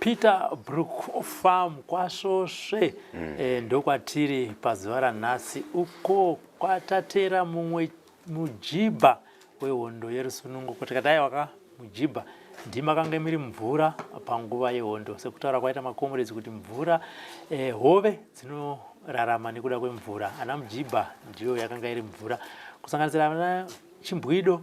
Peter Brook Farm kwaSvosve mm. e, ndokwatiri pazuva ranhasi uko kwatatera mumwe mujibha wehondo yerusunungo kuti kadai waka mujibha ndima kange miri mvura panguva yehondo sekutaura kwaita makomuredzi kuti mvura e, hove dzinorarama nekuda kwemvura ana mujibha ndiyo yakanga iri mvura kusanganisira ana chimbwido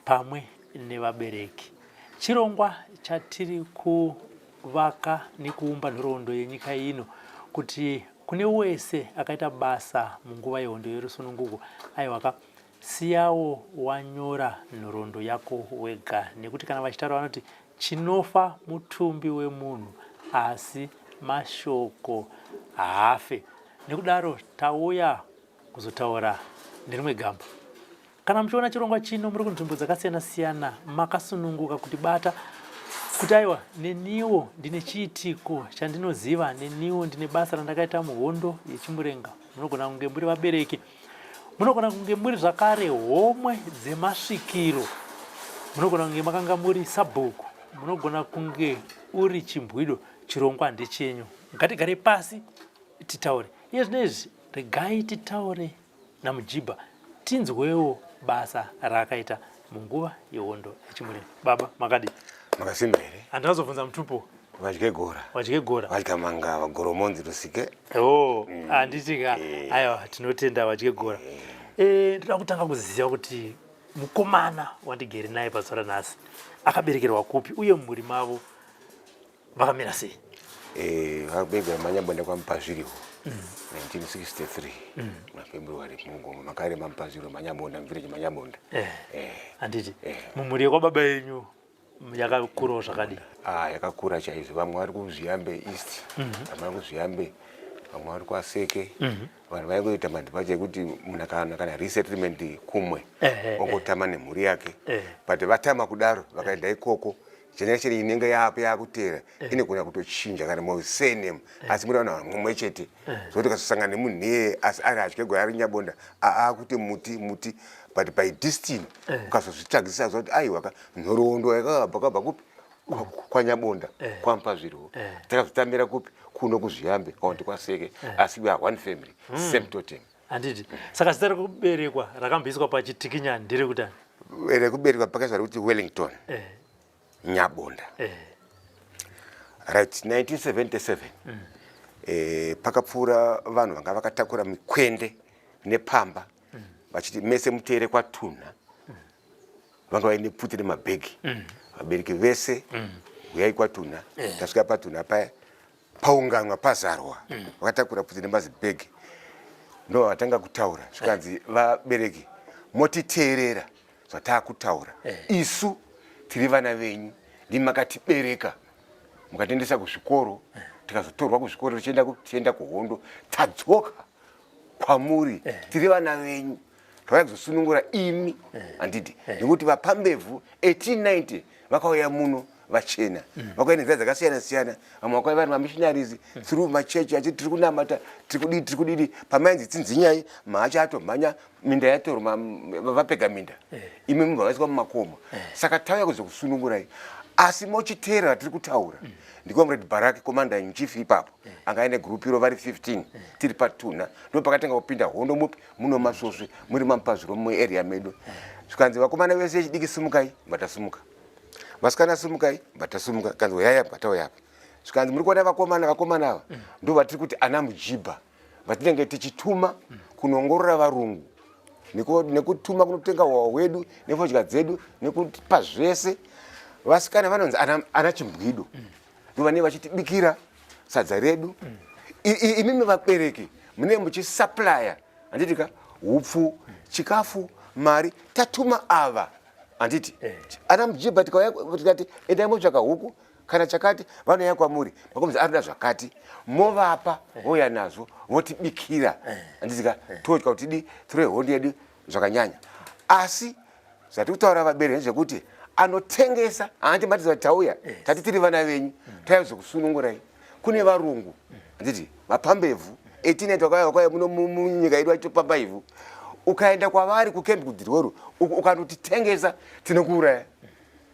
pamwe nevabereki. Chirongwa chatiri kuvaka nekuumba nhoroondo yenyika ino kuti kune wese akaita basa munguva yehondo yerusununguko aiwaka siyawo wanyora nhoroondo yako wega nekuti kana vachitaura vanoti chinofa mutumbi wemunhu asi mashoko haafe nekudaro tauya kuzotaura nerimwe gamba Kana muchiona chirongwa chino muri kunzvimbo dzakasiyana siyana makasununguka kuti bata kuti aiwa neniwo ndine chiitiko chandinoziva neniwo ndine basa randakaita muhondo yechimurenga munogona kunge muri vabereki munogona kunge muri zvakare homwe dzemasvikiro munogona kunge makanga muri sabhuku munogona kunge uri chimbwido chirongwa ndechenyu ngatigare pasi titaure iye zvino izvi regai titaure naMujibha tinzwewo basa raakaita munguva yehondo yechimureni baba makadi makasimba here handina kuzobvunza mutupo vadye gora vadye gora vadya mangava goromonzi rusike o mm. handiti ka eh. aiwa tinotenda vadye gora eh. Eh, ndoda kutanga kuziva kuti mukomana wandigere naye pazuva ranhasi akaberekerwa kupi uye mumhuri mavo vakamira sei eh, vakubegwa manyamboenda kwamupazviriwo 1963 mafebruary wari mugoma makare mamupaziro manyabonda mvire chemanyabonda eh, eh. handiti mumhuri yekwababa yenyu yakakurawo zvakadii ah, yakakura chaizvo vamwe vari kuzviyambe east mhm. vamwe vari kuzviyambe vamwe vari kwaseke mhm. vanhu vaingoita madhipacha ekuti munhu kana kana resettlement kumwe ongotama nemhuri yake but vatama kudaro vakaenda ikoko chena chiri inenge yako yakuteera eh. inogona kutochinja kana mu surname eh. asi muri vanhu vamwe chete eh. zvokuti kasosangana nemunhu iyeye asi ari hatye gwaya ari nyabonda aakuti muti muti but by distiny ukazozvitsvagisa zvakuti aiwaka nhoroondo yakakabva kabva kupi kwanyabonda kwampa zvirwo takazotambira kupi kuno kuzviyambe kaonti kwaseke asi we are one family hmm. same totem handiti saka zita rekuberekwa rakamboiswa pachitikinyani ndiri kutani rekuberekwa pakaiswa rekuti wellington eh. nyabonda eh. right 1977 mm. eh, pakapfuura vanhu vanga vakatakura mikwende nepamba mm. vachiti mese muteere kwatunha mm. vanga vaine pfuti nemabhegi mm. vabereki vese mm. huyai kwatunha eh. tasvika patunha paya paunganwa pazarwa mm. vakatakura pfuti nemazibhegi ndo vatanga kutaura zvikanzi vabereki motiteerera zvataakutaura eh. isu tiri vana venyu ndimi makatibereka mukatiendesa kuzvikoro eh. tikazotorwa kuzvikoro tichienda kuhondo tadzoka kwamuri eh. tiri vana venyu tauya kuzosunungura imi eh. handidi eh. nekuti vapambevhu 1890 vakauya muno vachena mm. vakauya nenzira dzakasiyana siyana vamwe vakauya vari mamissionaries mm. through machechi achiti tiri kunamata tiri kudii tiri kudidi pamainzi tsinzinyai mahacha atomhanya minda yatoro vapega minda eh. imi mubva vaiswa mumakomo saka tauya kuzokusunungurai asi mochiteerera tiri kutaura mm. ndikomredi baraki komanda inchief ipapo mm. anga aine group iro vari 15 mm. tiri patuna ndo pakatanga kupinda hondo mupi muno masvosve muri mamupazvirwa muarea medu zvikanzi vakomana vese vechidiki simukai vatasumuka vasikana simukai vatasumuka kanzi uyaya vatauyapa zvikanzi muri kuona vakomana vakomana ava mm. ndo vatiri kuti ana mujibha vatinenge tichituma kunongorora varungu nekutuma kunotenga hwawa hwedu nefodya dzedu nekupa zvese vasikana vanonzi ana chimbwido mm. ndovanei vachitibikira sadza redu imimi vabereki mune muchisaplya handiti ka upfu chikafu mari tatuma ava handiti eh. ana mjibha tikati endai motsvaka huku kana chakati vanouya kwamuri makomzi arida zvakati movapa eh. vouya nazvo votibikira eh. handiti ka todya kuti di tore hondi yedu zvakanyanya asi zvati kutaura vabereki nezvekuti anotengesa haandi matiza kuti tauya yes. tati tiri vana venyu mm. tauya zvekusunungurai kune varungu handiti mm. vapamba ivhu 18 vakauya vakauya muno munyika yedu vachitopamba ivhu ukaenda kwavari kukembi kudirworu ukanotitengesa tinokuuraya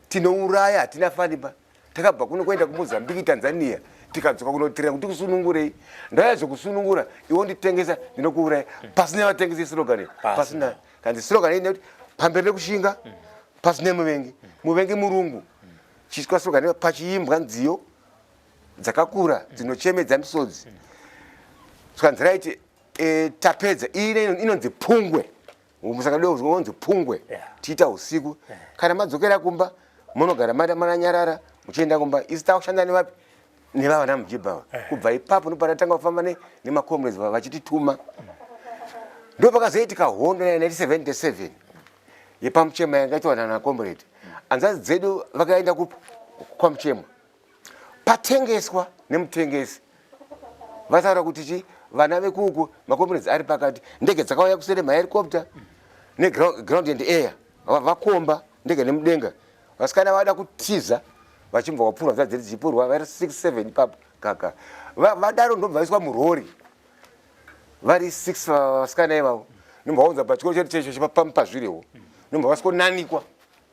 tinouraya hatina faniba takabva kuno kwaenda kumozambiki tanzania tikadzoka kunotirira kuti kusunungurei ndauya zvekusunungura iwo nditengesa ndinokuuraya pasina vatengesa isirogani pasina kanzi sirogani ine kuti pamberi nekushinga pasina muvengi muvengi murungu chiitwa sirogani pachiimbwa nziyo dzakakura dzinochemedza misodzi saka nzira iti e, tapedza iyi inonzi pungwe musaka ndoonzi pungwe yeah. tiita usiku yeah. kana madzokera kumba munogara mada mananyarara muchienda kumba isi takushanda nevapi nevavana mujibhawa yeah. kubva ipapo ndopatatanga kufamba ne, nemacomrades vachitituma mm. ndo pakazoitika hondo 1977 yepamuchema yanga itiwanana comrade mm. anzazi dzedu vakaenda kupi kwamuchema patengeswa nemutengesi vataura kuti chi vana vekuuku makombinensi ari pakati ndege dzakauya kusere mahericopter neground and air vakomba ndege nemudenga vasikana vada kutiza vachibva vapfurwa dza dziri dzichipurwa vari 67 ipapo kaka vadaro ndobva vaiswa murori vari 6 vasikana ivavo ndomba vaunza pachikoro chedu checho chepapamupazvirewo ndomba vasikonanikwa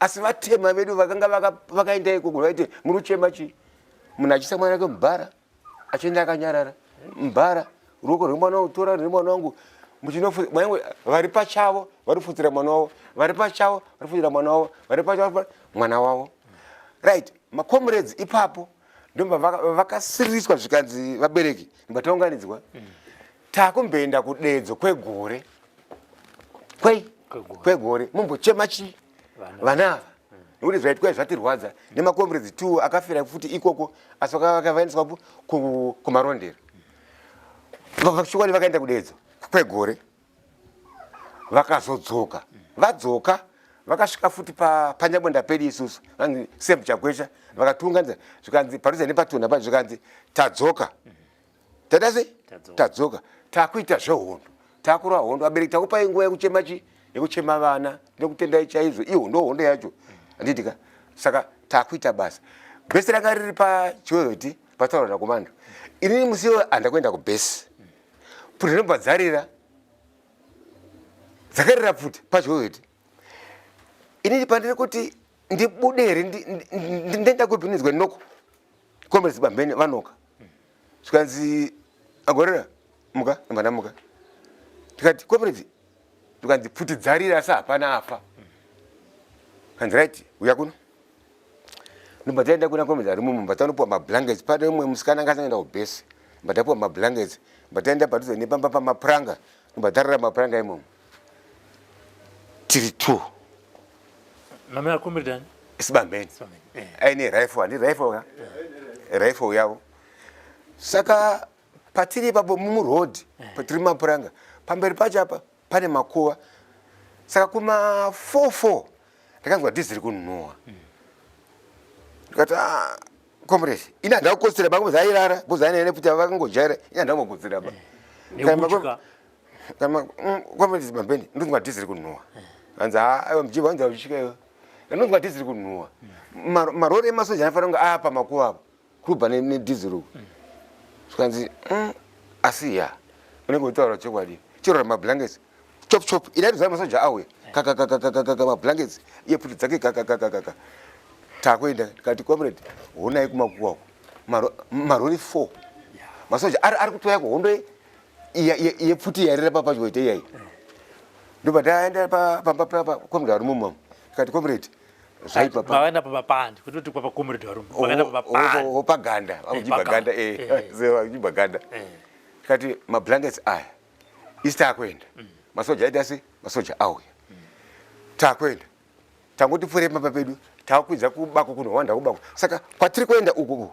asi vatema vedu vakanga vakaenda ikoko vaiti muri kuchema chii munhu achiisa mwana wake mubhara achienda akanyarara mubhara ruoko rwemwana wangu tora rwemwana wangu muchinofuaange vari pachavo vari kufutsira mwana wavo vari pachavo vari kufutsira mwana wavo vari pachavo mwana wavo right macomrades ipapo ndomba vakasiriswa zvikanzi vabereki ndibataunganidzwa mm. takumboenda kudedzo kwegore kwei kwegore mumbochema chii vana ava nekuti zvaitwa zvatirwadza nemakomrades two akafira futi ikoko asi vakavaendeswa kumarondero chokwadi vakaenda kudedzo kwegore vakazodzoka vadzoka vakasvika futi panyabonda pedi isusu vanzi sem chakwesha vakatunganza zvikanzi padhuze nepatona pa zvikanzi tadzoka tada sei tadzoka takuita zvehondo takurwa hondo abereki takupai nguva yekuchema chii yekuchema vana nekutendai chaizvo iyo ndo hondo yacho andiitika saka takuita basa bhesi ranga riri pachiweweti pataura nakomando inini musi iwe andakuenda kubhesi pfuti rinobva dzarira dzakarira pfuti pachiweweti inini pandiri kuti ndibude here ndenda kupi ndinzwa ndinoko Comrades Bamhene vanoka. Zvikanzi agorera muka mwana muka. Tikati comrades tukanzi pfuti dzarira asi hapana afa. Kanzi right uya kuno. Ndobva taenda kuna comrades ari mumba tanopuwa mablankets pane umwe musikana anga asangenda kubhesi. Ndobva tapuwa mablankets. Ndobva taenda padhuze nepamba pamapuranga. Ndobva tarara mapuranga imomo. tiri two mame akombiridani isibambeni eh. aine rifle handi rifle ka eh. rifle yavo saka patiri ipapo mumuroad eh. patiri mapuranga pamberi pacho apa pane makuva saka kuma four four ndakanzwa dhizi ri kunhuwa hmm. ndikati ah, comrade ini handava kukotsira bangu zairara bozanene kuti vakangojaira ini handava kukotsira ba kana mm, kwamaizi mambeni ndonzi madhiziri kunhuwa hanzi haa aiwa mjibwa hanzi auchika iwe ndonzi madhiziri kunhuwa Mar- marori emasoja anofanira kunge apa makuva apo kurubva ne- nedhiziri uku zvikanzi mm, asi ya unenge utaura chokwadi chirora mablankets chop chop idai zaa masoja auya kakakakakakaka mablankets iye pfuti dzake kakakakakaka takuenda tikati comrade honai kumakuwa uku Maro- marori four masoja ari ari kutoya kuhondo ye- yepfuti yairira papadyo ite iyai ndobva ndaenda pamba papa komrade varume mama tikati komrade zvaipaavaenda pamapandi kutoti kwapa komrade varume vakaenda pamapandipaganda vakuchibva ganda vakuchibva ganda tikati mablankets aya isi taakuenda masoja aita asi masoja auya taakuenda tangoti pfuurei pamba pedu takukwidza kubako kunohwanda kubako saka kwatiri kuenda uku uku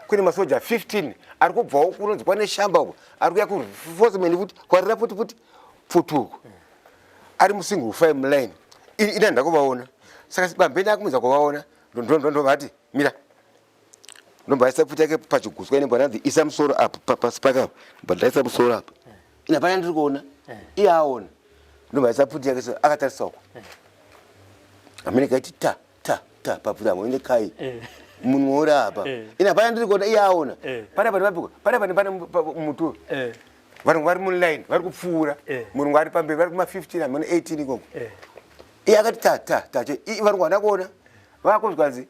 kune masoja 15 ari kubvawo kunonzi kwane shamba uko ari kuya kufosemeni futi kwarira futi futi pfuti uko ari musingle fam line ini ina ndakuvaona saka bambeni akumudza kuvaona ndondondondovati mira ndombaisa pfuti yake pachiguswa ine bwananzi isa musoro apa pasi pake apa bwandaisa musoro apa ina pana ndiri kuona eh. iye aona ndombaisa pfuti yake so akatarisa uko eh. amene kaiti ta ta ta papfuti amo ine kai eh. munhu wauri apa ina pana ndiri kuona iye aona pana pane vapiko pana pane pane mutu vanhu vari muline vari kupfuura murungu ari pamberi vari kuma 15 amene 18 ikoko iye akati ta ta ta iye vanhu vana kuona vakunzwanzi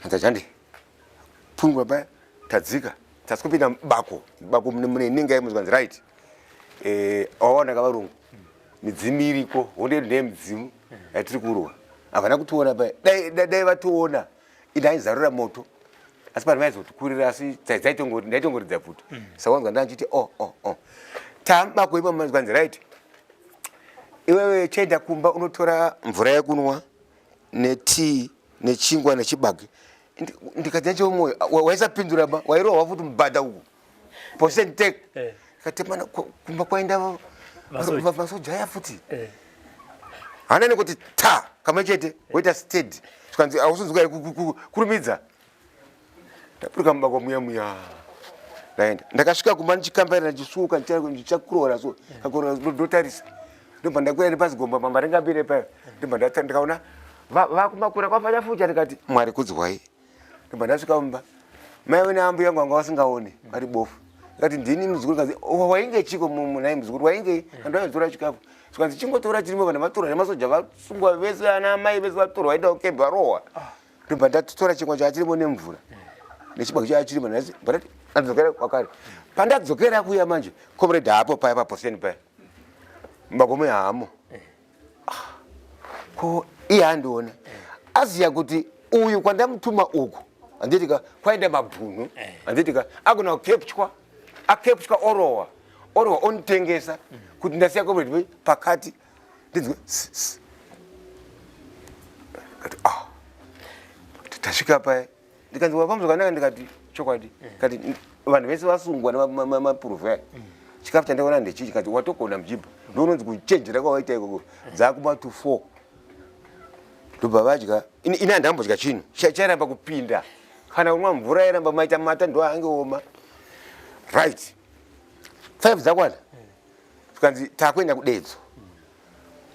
hanza chandi pfungwa paya tadzika tasi kupinda bako bako mune inenge yaimunzi kanzi right eh, awaona ka varungu midzimu iriko honde ndiye midzimu yatiri kurwa havana kutiona paya dai vationa da, da, ini aizarura moto asi pane vaizotikurira asi ndaitongoridza pfuti mm. sawanzwa ndandichiti o oh, o oh, o oh. tamba kuipa manzwanzi right iwewe chaenda kumba unotora mvura yekunwa netii nechingwa nechibage ndikati yacho mwoyo waisapindura ba wairohwa futi mubhadha uku Posen take. Eh. Katemana kumba kwaenda masoja aya futi. Eh. Hana nekuti ta kamwe chete woita stead. Tukanzi ausonzwa kurumidza. Ndapuruka mumba kwa muya muya. Ndaenda. Ndakasvika kumba ndichikambaira ndichisuka ndichakurora so. Eh. Kakurora ndotarisa. Ndobva ndakwira nepasi gomba mama ringambire payo. Ndobva ndakaona vakumakura kwafanya futi ndikati Mwari kudzwai. ndobva ndasvika mumba mai vene ambuya yangu vanga vasingaone vari bofu ikati ndini muzukuru kanzi oh, wainge chiko munai muzukuru wainge kandu vaizotora chikafu zvikanzi chingotora chirimo kana vatorwa nemasoja vasungwa vese ana amai vese vatorwa vaenda kukembe varohwa ah. ndobva ndatotora chingwa changa chirimo nemvura nechibaki changa chirimo ndati bati anzokera kwakare pandadzokera kuya manje comrade haapo paya paposeni paya makomo yaamo ko iye andione aziya kuti uyu kwandamutuma uku anditika kwaenda mabhunu eh. anditika agona kukepchwa akepchwa orowa orowa onditengesa kuti ndasiya komredi pakati ndinzwe kati ah tasvika paye ndikanzi wakambo zvakanaka ndikati chokwadi kati vanhu vese vasungwa nemapuruvha aya chikafu chandaona ndechii chikati watogona mjibha ndounonzi kuchenjera kwawaita ikoko dzakuma to four ndobva vadya ini handambodya chinhu chairamba kupinda kana kunwa mvura yairamba maita mata ndo ange oma right five dzakwana zvikanzi takuenda kudedzo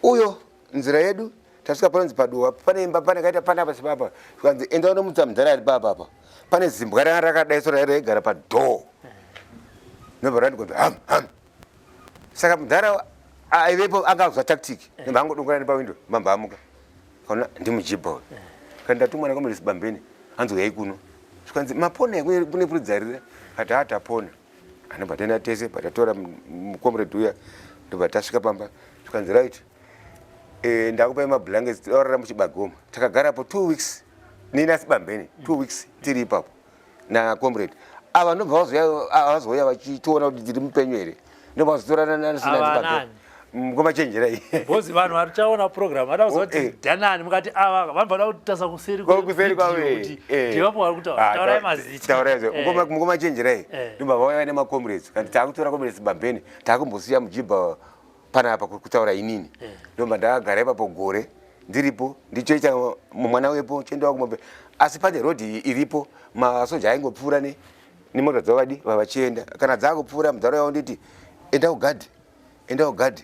uyo nzira yedu tasvika panonzi paduwa pane imba pane kaita pana apa sibaba zvikanzi enda unomutsa mudhara ari baba apa pane zimbwa ranga rakadai so raira igara padhoo nobva rati kunzi ham ham saka mudhara aivepo anga akuza tactic nobva angodongora ne pawindo mamba amuka kaona ndimujibha uyo kani ndatumwa nakomere sibambeni hanzi uyai kuno zvikanzi mapona kune puridzarira kati hatapona anobva taenda tese patatora mucomrade uya ndobva tasvika pamba zvikanzi right e, ndakupai mablankets taurara muchibagoma takagarapo two weeks nini asi bambeni two weeks tiri ipapo nacomrade ava ndobva vazouya vachitoona kuti tiri mupenyu here ndobva vazotorana nasinaa mkomachenjerai mm, bhozi vanhu vatichaona program vada kuziva kuti eh. danani mukati ava vanhu vada kutasa kuseri kuseri kwakuti eh. ndivapo vari kutaurai ah, mazitaurai eh. mkomachenjerai ndimba vauya nemacomrades kandi taakutora comrades bambeni taakumbosiya mujibha panapa kutaura inini ndomba ndakagara ipapo gore ndiripo ndichoita mwana wepo chiendawa kumombe asi pane road iripo masoja aingopfuura ne nemota dzavadi vavachienda kana dzaakupfuura mudharo yavo nditi enda kugadhi enda ugadhe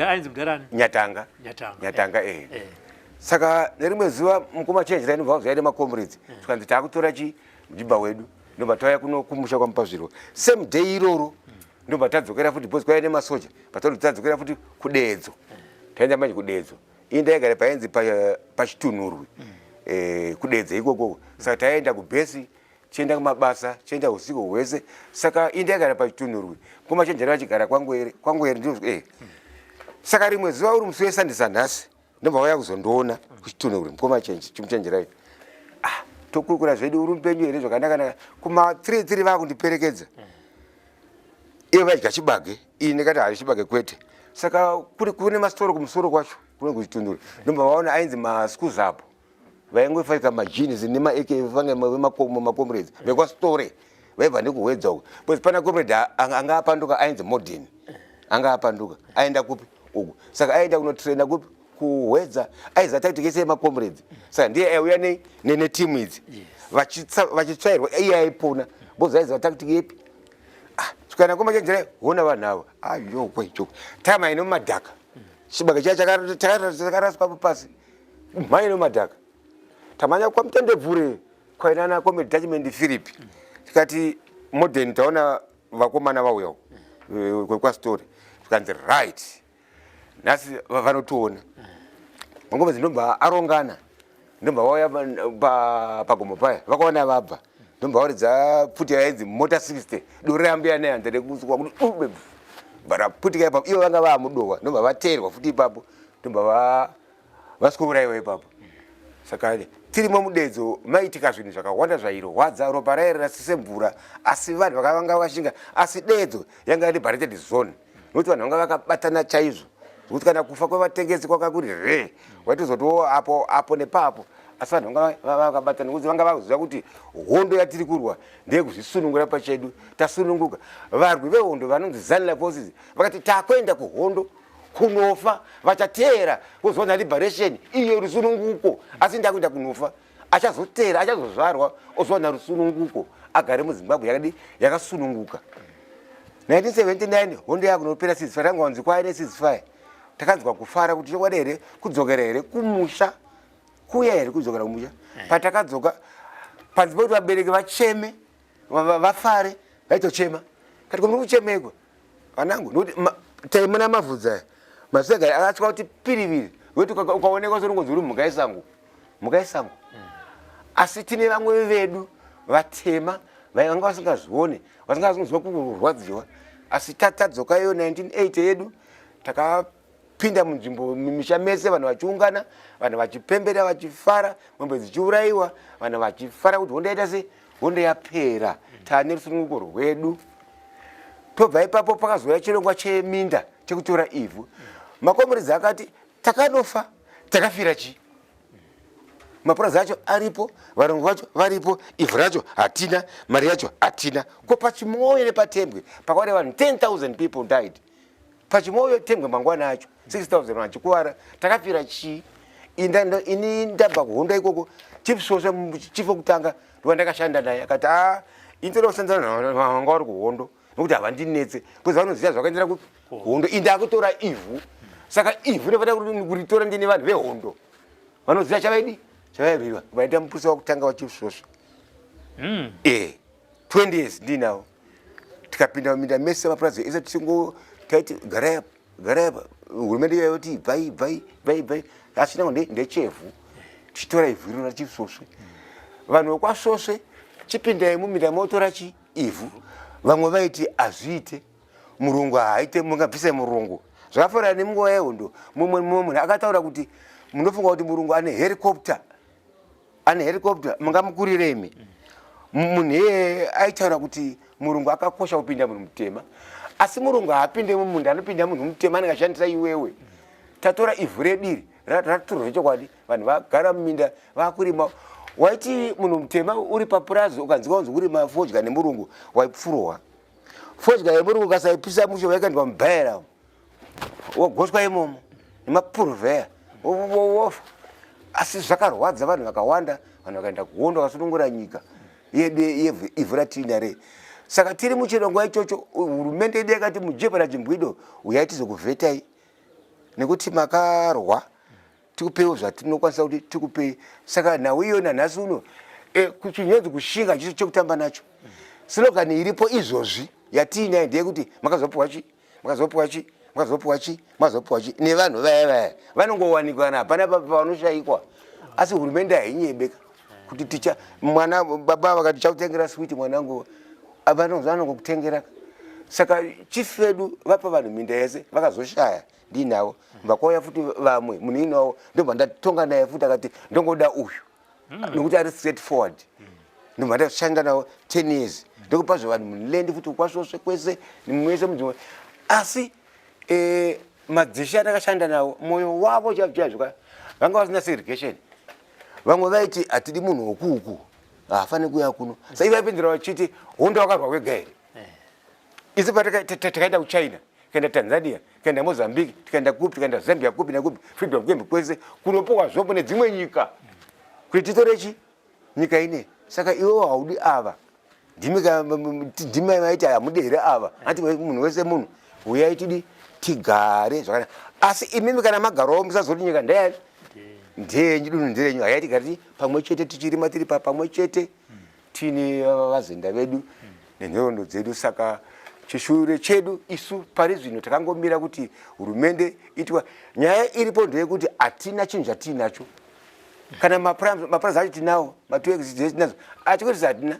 ainzi mudhara ani nyatanga nyatanga nyatanga eh, eh. eh. saka nerimwe zuva mukoma change raini bva vazoya nemacomrades eh. tikanzi taakutora chi mjibha wedu ndobva tauya kuno kumusha kwamupazvirwa same day iroro hmm. ndobva tadzokera futi bcause kwaiya nemasoja batauri tadzokera futi kudeedzo eh. taenda manje kudeedzo ii ndaigara painzi pachitunhurwi hmm. eh, kudeedzo ikokoko saka taenda kubhesi chienda kumabasa chienda usiku hwese saka indi yagara pachitunhurwi kumachenjera vachigara kwangwere kwangwere ndo eh. saka rimwe zuva uri musi wesandisa nhasi ndobva waya kuzondiona kuchitunhurwi mkomachenje chimuchenjerai ah, tokurukura zvedu uri mupenyu here zvakanakanaka kuma three three vakundiperekedza mm ivo vadya chibage ini ndikati hadi chibage kwete saka kune masitoro kumusoro kwacho kune kuchitundura ndomba vaona ainzi maschool zapo vaingofaika majeans nemaak vange vemakomo macomrades vekwastore vaibva nekuhwedza uku bcause pana comrade anga apanduka ainzi modern anga apanduka aenda kupi uku saka aenda kunotraina kupi kuhwedza aiza tactic yese yemacomrades saka ndiye aiuya neteam idzi vachitsvairwa iye aipona bcause aiziva tactic yepi ah, svikana komachenjera hona vanhu avo ayokwe ah, choko time aine mumadhaka chibage chaya chakaraswa papasi mhaino madhaka tamanya kwamutendebvure kwainana kome detachment philip tikati modern taona vakomana vauya eh, kwekwastory zvikanzi right nhasi vanotiona mangoma dzinobva arongana ndobva vauya pagomo paya vakaona vabva ndobva varidza pfuti yainzi mota 60 dore rambiya nehanza rekusukwa kuti ube bvara pfutika ipapo ivo vanga vaamudowa ndobva vateerwa futi ipapo ndobva vasikouraiwa ipapo saka tirimo mudedzo maitika zvinhu zvakawanda zvairwadza ropa rairera sesemvura asi vanhu vakavanga vashinga asi dedzo yanga iri barated zone nokuti vanhu vanga vakabatana chaizvo zvekuti kana kufa kwevatengesi kwanga kuri hre waitozotiwo apo apo nepapo asi vanhu vanga vakabatana nokuti vanga vakuziva kuti hondo yatiri kurwa ndeyekuzvisunungura pachedu tasununguka varwi vehondo vanonzi zanila forces vakati takuenda kuhondo kunofa vachateera voziva na liberation iyo rusununguko asi ndakuita kunofa achazoteera achazozvarwa oziva na rusununguko agare muzimbabwe yakadi yakasununguka 1979 hondo yakunopera sisfa tanga wanzi kwaye nesisfa takanzwa kufara kuti chokwadi here kudzokera here kumusha kuya here kudzokera kumusha patakadzoka panzi poti vabereki vacheme vafare vaitochema kati ko muri kuchemekwa vanangu nokuti taimona mavhudzi aya masegari akatya kuti piriviri wekuti ukaonekwa soringonzi uri mhuka yesango mhuka yesango mm. asi tine vamwe vedu vatema vanga vasingazvione vasingazviziva kurwadziwa asi tatadzoka iyo 1980 yedu taka kupinda munzvimbo mumisha mese vanhu vachiungana vanhu vachipembera vachifara mombe dzichiurayiwa vanhu vachifara kuti hondo yaita se hondo yapera tane rusununguko rwedu tobva ipapo pakazouya chirongwa cheminda chekutora ivhu makomuridzi akati takanofa takafira chii mapurazi acho aripo varungu vacho varipo ivhu racho hatina mari yacho hatina ko pachimwoyo nepatembwe pakauya vanhu 10 000 people died pachimoyo tengwe mangwana acho 6000 vachikuvara takafira chii ini ndabva kuhondo ikoko chief sosva chief wekutanga ndiwa ndakashanda naye akati a ah, ini toda kusanzana navo vanga vari kuhondo nokuti havandinetse bcause vanoziva zvakaendera kuhondo ini ndakutora ivhu saka ivhu ndofanira kuritora ndine vanhu vehondo vanoziva chavaidi chavaibirwa vaita muprisa wakutanga wachief sosva hmm. e eh. 20 years ndinawo tikapinda muminda mese mapurazi ese tichingo taiti garai apa garai apa hurumende iya yoti ibvai ibvai ibvai ibvai asi nango ndechevhu tichitora ivhu irona tichisvosve vanhu vekwasvosve chipindai muminda motora chi ivhu vamwe vaiti hazviite murungu haaite mungabvisai murungu zvakafanana nemunguva yehondo mumwe mumwe munhu akataura kuti munofunga kuti murungu ane hericopter ane helicopter mungamukurire imi munhu iye aitaura kuti murungu akakosha kupinda munhu mutema asi murungu haapinde mumunda anopinda munhu mutema anenge ashandisa iwewe tatora ivhu rediri ratitorwa zvechokwadi vanhu vagara muminda vakurima waiti munhu mutema uri papurazi ukanzi kaunzi kurima fodya nemurungu waipfurowa fodya yemurungu kasaipisa musho vaikandwa mubaira wogoswa imomo nemapuruvheya wofa asi zvakarwadza vanhu vakawanda vanhu vakaenda kuhondo vakasunungura nyika yedu ivhu ratiina rei saka tiri muchirongwa ichocho hurumende yedu yakati mujebha rachimbwido uyai tizokuvhetai nekuti makarwa tikupeiwo zvatinokwanisa kuti tikupei saka nhau iyo nanhasi uno e, kuchinyenzi kushinga chiso chekutamba nacho sinogani iripo izvozvi yatiinayo ndeyekuti makazopiwa chii makazopiwa chi makazopiwa chi makazopiwa chi nevanhu vaya vaya vanongowanikwa na hapana pavanoshaikwa asi hurumende hainyebeka kuti ticha mwana baba vakati chakutengera switi mwanangu vanongokutengera saka chief vedu vapa vanhu minda yese vakazoshaya ndinavo vakauya futi vamwe munhu inavo ndobva ndatonga naye futi akati ndongoda uyu mm. nokuti ari straight forward mm. ndobva ndashanda nawo ten years mm. ndokupa zve vanhu mulendi futi kwasvosve kwese nimwese mudzimwe asi eh, madzishe atakashanda nawo mwoyo wavo chaizvoka vanga vasina segregation vamwe vaiti hatidi munhu wokuuku haafaniri kuya kuno sa ivaipindira vachiti hondo wakarwa kwega here isu patakaenda kuchina tikaenda tanzania tikaenda mozambique tikaenda kupi tikaenda zambia kupi nakupi freedom camp kwese kunopowa zvombo nedzimwe nyika kuti titore chi nyika ine saka iwo haudi ava ndimai maiti hamude here ava anti munhu wese munhu uyai tidi tigare zvakanaka asi imimi kana magarowo musazoti nyika ndeyani ndeyenyu dunhu nderenyu hayai tigare pamwe chete tichirima tiri pamwe chete tine vavazenda vedu nenhorondo dzedu saka chishure chedu isu pari zvino takangomira kuti hurumende itwa nyaya iripo ndeyekuti hatina chinhu chatiinacho kana mapurazi acho tinawo matuexitinazo achikotisa hatina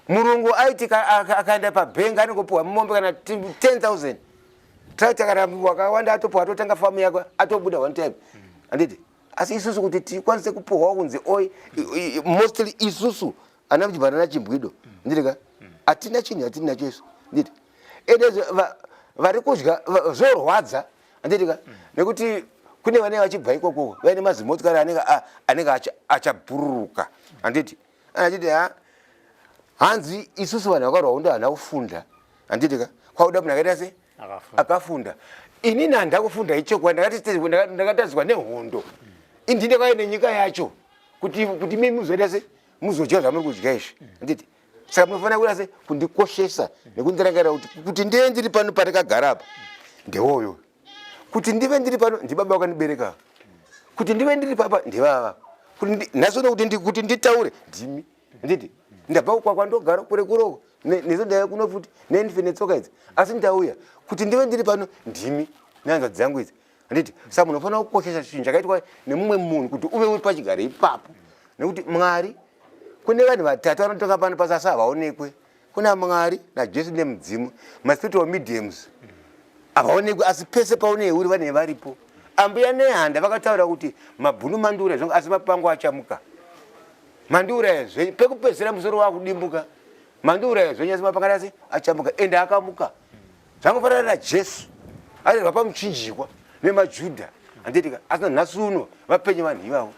murungu aiti akaenda pabhengi anongopiwa mombe kana 10000 taitakara wakawanda atopiwa atotanga famu yako atobuda one time handiti asi isusu kuti tikwanise kupohwa kunzi oi mostly isusu ana mjibana na chimbwido ndirika atina chinhu yatiri nacho isu nditi ende vari kudya zvorwadza ndirika nekuti kune vanenge vachibva ikoko vaine mazimotikari anenge anenge achabhururuka anditi achiti ha hanzi isusu vanhu vakarwa undo hana kufunda anditika kwauda munhu akaita se akafunda inini handina kufunda ichokwadi ndakatadzwa nehondo indi ndakauya nenyika yacho kuti kuti mimi muzoita se muzodya zvamuri kudya izvi handiti saka munofanira kuita se kundikoshesa nekundirangarira kuti kuti ndive ndiri pano pandakagara apa ndewoyo kuti ndive ndiri pano ndibaba vakandibereka kuti ndive ndiri papa ndivava nhasi uno kuti nditaure ndimi handiti ndabva kukwakwa ndogara kure kuroko nezo ndaiva kuno futi nendife netsoka idzi asi ndauya kuti ndive ndiri pano ndimi nehanzvadzi dzangu idzi handiti saka munhu unofanira kukoshesa chinhu chakaitwa nemumwe munhu kuti uve uri pachigare ipapo nekuti mwari kune vanhu vatatu vanotonga pano pasasa havaonekwe kuna mwari najesu nemudzimu maspiritual mediums havaonekwi asi pese pauneuri vane varipo ambuya nehanda vakataura kuti mabhunu mandura zvanga asi mapango achamuka mandura ezve pekupedzisira musoro wakudimbuka mandura ezve nyasi mapangana asi achamuka ende akamuka zvangofanana najesu airwa pamuchinjikwa nemajudha andiitika asina nhasi uno vapenye vanhu ivavo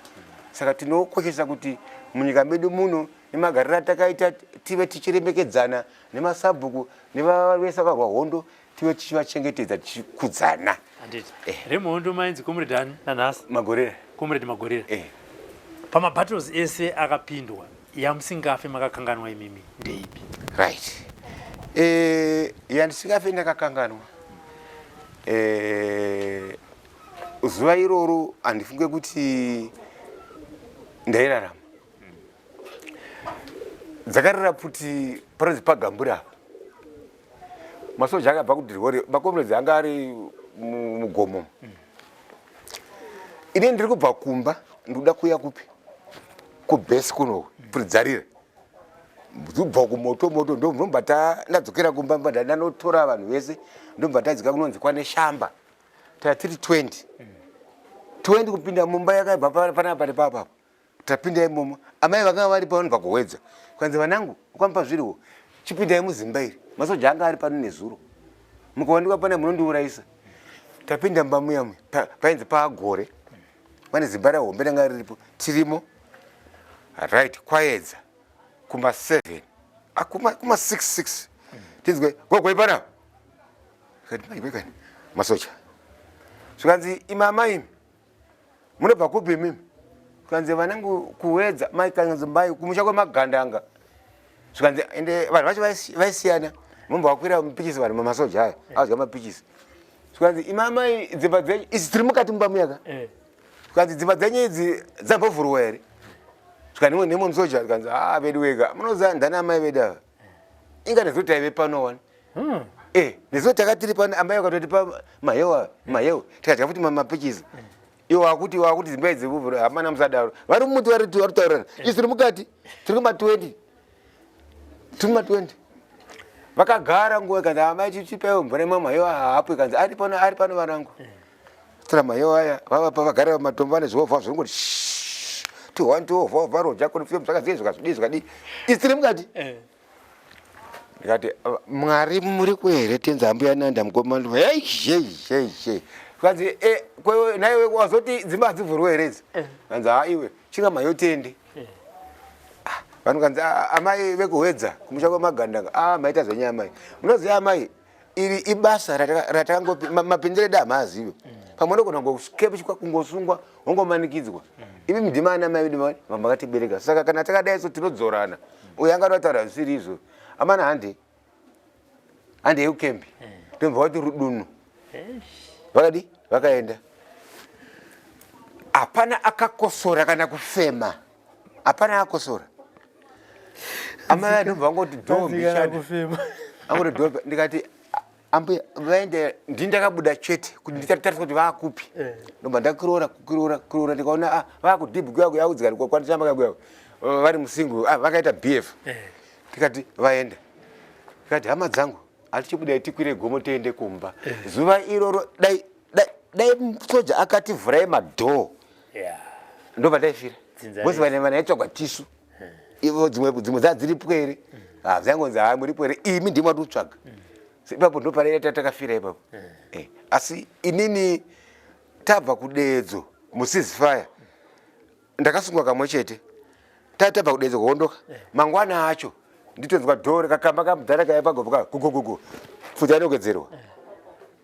saka tinokoshesa kuti munyika medu muno nemagariro atakaita tive tichiremekedzana nemasabhuku nevavese vakarwa hondo tive tichivachengetedza tichikudzana eh. remuhondo mainzi comrade ani nanhasi magorera comrade magorera eh. pamabattles ese akapindwa yamusingafe makakanganwa imimi ndeipi right eh, yandisingafe ndakakanganwa eh, zuva iroro handifunge kuti ndairarama dzakarira pfuti panonzi pagamburi apa masoja akabva kudirwore makomrades anga ari mugomo ini ndiri kubva kumba ndikuda kuya kupi kubhesi kuno puridzarire ndikubva kumoto moto ndomva ndadzokera kumba mba ndanotora vanhu vese ndomva ndadzika kunonzi kwane shamba taa tiri 20 20 kupinda mumba yakaibva panapa nepapapa tapinda imomo amai vakanga vari pano pakuhwedza kwanzi vanangu ukamupa zviriwo chipindai muzimba iri masoja anga ari pano nezuro mukawandikwa pana munondiurayisa tapinda mumba muyamwe painzi paagore pane zimba rehombe ranga riripo tirimo right kwayedza kuma 7 ah, kuma 66 tinzwe gogoi panapa masoja zvikanzi imama imi munobva kupi mimi zvikanzi vanenge kuwedza mai kanzi mai kumusha kwemagandanga zvikanzi ende vanhu vacho vaisiyana mumba wakwira mupichisi vanhu mamasoja aya azwa mapichisi zvikanzi imamai dzimba dzenyu izi tiri mukati mumba muyaka eh. zvikanzi dzimba dzenyu idzi dzambovhurwa here zvikanzi imwe nemwe musoja zvikanzi haa ah, vedu wega munoziva ndani amai vedu ava inga nesu taive pano wani hmm. eh, nesu taka tiri pano amai vakatotipa mahewa mahewa tikadya futi mamapichisi hmm. iwo akuti iwo akuti dzimba idzi hamana musadaro vari mumuti vari taurirana hmm. isu tiri mukati tiri kuma 20 tiri kuma 20 vakagara nguva ikanzi amai chichipaiwo mvura imwe mahewa haapo ikanzi ari pano ari pano varangu Tira mayo aya vava pa vagare va matombo vane zvihovha zviri kuti ti one two hovha hovha roja kuri fiyo musaka zviye zvikazvidi zvikadi isiri mukati eh. ndikati mwari muri kuhere tenza ambuya nanda mukoma ndova hei hei hei hei zvanzi e kwewe naiwe wazoti dzimba hadzivhurwe here idzi eh. anzi ha iwe chinga mayo tende eh. ah, vanhu kanzi ah, amai vekuhwedza kumusha kwemagandanga a ah, maita zvenyaya amai munoziva amai iri ibasa ratakangopi mapindiro edu hamaazive pamwe ndogona ngoskepchwa kungosungwa wongomanikidzwa ivi mdima ana mai vedu vamakatibereka saka kana takadai so tinodzorana uyo anga atotaura zvisiri izvo amana hande hande yeukembi tomva wati rudunu vakadi vakaenda hapana akakosora kana kufema hapana akosora amai vanobva vangoti dombishaaangoti ndikati ambuya vaende ndini ndakabuda chete kuti nditatariswa kuti vaakupi eh. ndobva ndakiroora kukiroora kiroora ndikaona ah, vaakudhibhu kuyaku yaudzikani kwakwandichamba kakuyaku vari musingu ah, vakaita bf eh. tikati vaenda tikati hama dzangu hatichibudai tikwire gomo tiende kumba eh. zuva iroro dai soja akativhurai madhoo ndo pataifira vose vane vana yatsvagwa tisu ivo dzimwe dzimwe dza dziri pwere ah, zvangonzi haa muri pwere imi ndimo ati kutsvaga ipapo ndo pare tatakafira ipapo eh, asi inini tabva kudeedzo musizifaya ndakasungwa kamwe chete taa tabva kudeedzo kuondoka mangwana acho nditonzwa dhoo rekakamba kamudhara kaiva pagovo ka gugugugu futi anogedzerwa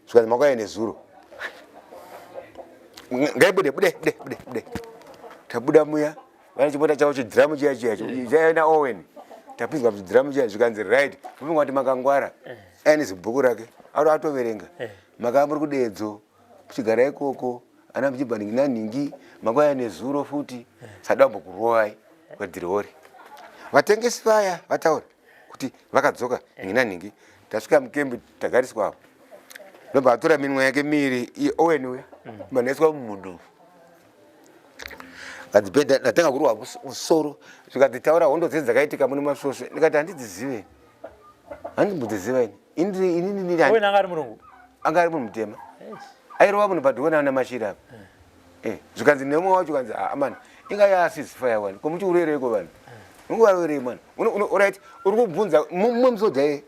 zvikanzi makauya nezuro ngaibude bude bude bude bude tabuda muya vane chimota chavo chidhiramu chiya chiya chaina owen tapinzwa mudhiramu chiya zvikanzi right kupinga kuti makangwara eh. aine zibhuku rake auto atoverenga eh. makaa muri kudedzo kuchigara ikoko ana muchibva ningi nanhingi makwaya nezuro futi eh. sadambo kurovai kwadhiriori vatengesi vaya vataura kuti vakadzoka nhingi nanhingi tasvika mukembi tagariswa apo ndobva atora minwa yake miiri owen uya mm. manaiswa mumunhu adzibhedha ndatanga kurwa musoro zvikadzitaura hondo dzei dzakaitika mune masvosve ndikati handidzizive handimbodziziva ini ininininanga ari murungu anga ari munhu mutema airova munhu padhokona ana mashira apa mm. eh zvikanzi nemwe wacho kanzi ah man inga yasisi fire wani komuti urereiko vanhu unguva rerei man right uri kubvunza mumwe musoja ye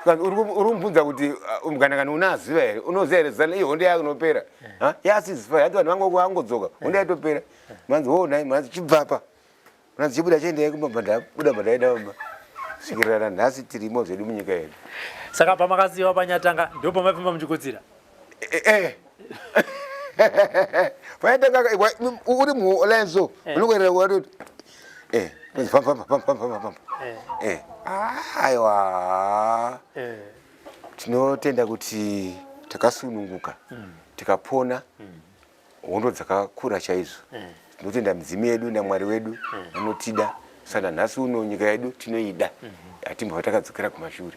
eh. uri kumubvunza kuti ah, mganakani una aziva here unoziva here zana iyo hondo yake inopera eh. yasisi fire hati vanhu vangu vangodzoka hondo eh. yaitopera manzi ho oh, nai manzi chibvapa Mwana dzichibuda chiendai kumba pandabuda pandaenda kumba svikirira nanhasi tirimo zvedu munyika yedu. Saka pamakaziva panyatanga ndipo pamapfimba muchikudzira. Eh. eh, eh. Panyatanga uri muola so eh. unokuerera watoti eh famba famba famba famba famba eh aiwa eh tinotenda kuti takasununguka mm. tikapona mm. hondo dzakakura chaizvo mm. tinotenda midzimu yedu namwari wedu mm. anotida sana nhasi uno nyika yedu tinoida mm -hmm. hatimbova takadzokera kumashure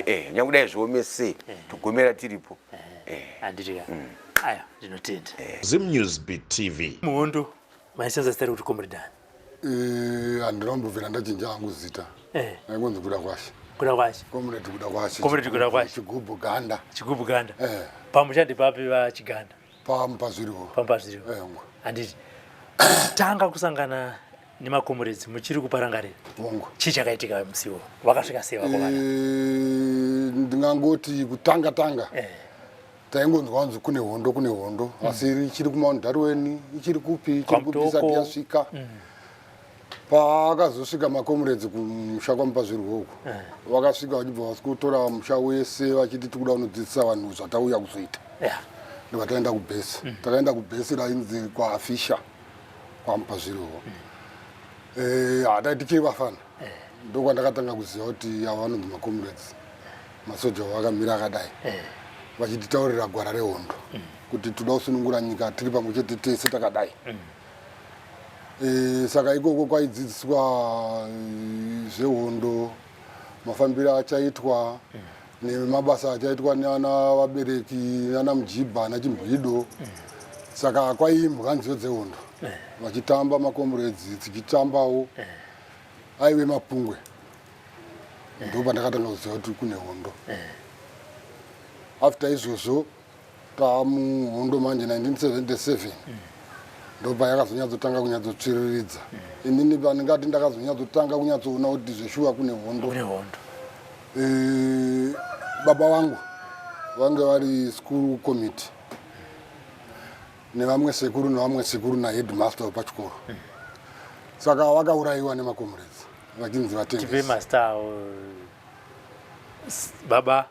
eh, nyange dai zviome sei eh. togomera tiripo eh. eh. mm. aya ndinotenda eh. zimnews btv muhondo maisenza zita rekuti comredani eh, handina kumbovera ndachinja hangu zita eh. naikonzi kuda kwashe kuda kwashe comrade kuda kwashe comrade kuda kwashe chigubhu ganda chigubhu ganda eh. pamushandi papi vachiganda pamba zviriwo pamba zviriwo handiti tanga kusangana nemakomuredzi muchiri kuparangarira chii chakaitika musiwo vakasvika sei vakomana eh, ndingangoti kutanga tanga eh. taingonzwa kunzi kune hondo kune hondo mm. asi ichiri kumount darwen ichiri kupi ichiri kupi isati yasvika mm. paakazosvika makomuredzi kumusha kwamupa zvirwo uku eh. vakasvika vachibva vasi kutora musha wese vachiti tikuda unodzidzisa vanhu zvatauya kuzoita ndobva taenda kubhesi mm. takaenda kubhesi rainzi kwaafisha kwamupa zvirwo mm. eh, hatai tichiri vafana eh. ndokwandakatanga kuziva kuti ava vanonzi makomuredzi masoja vakamira akadai vachititaurira gwara rehondo mm. kuti toda kusunungura nyika tiri pamwe chete tese takadai E, saka ikoko kwaidzidziswa eh, zvehondo mafambiro achaitwa nemabasa achaitwa nana vabereki nana mujibha nachimhwido saka kwaiimbwa nziyo dzehondo vachitamba makomredzi tichitambawo aive mapungwe ndo pandakatanga kuziva kuti kune hondo after izvozvo Pamuhondo manje 1977 ndopa yakazonyatsotanga kunyatsotsviriridza inini pandingati ndakazonyatsotanga kunyatsoona kuti zveshuwa kune hondo eh, baba vangu vange vari school committee nevamwe sekuru nevamwe sekuru naheadmaster wepachikoro saka vakaurayiwa nemakomuredzi vachinzi vatengesi baba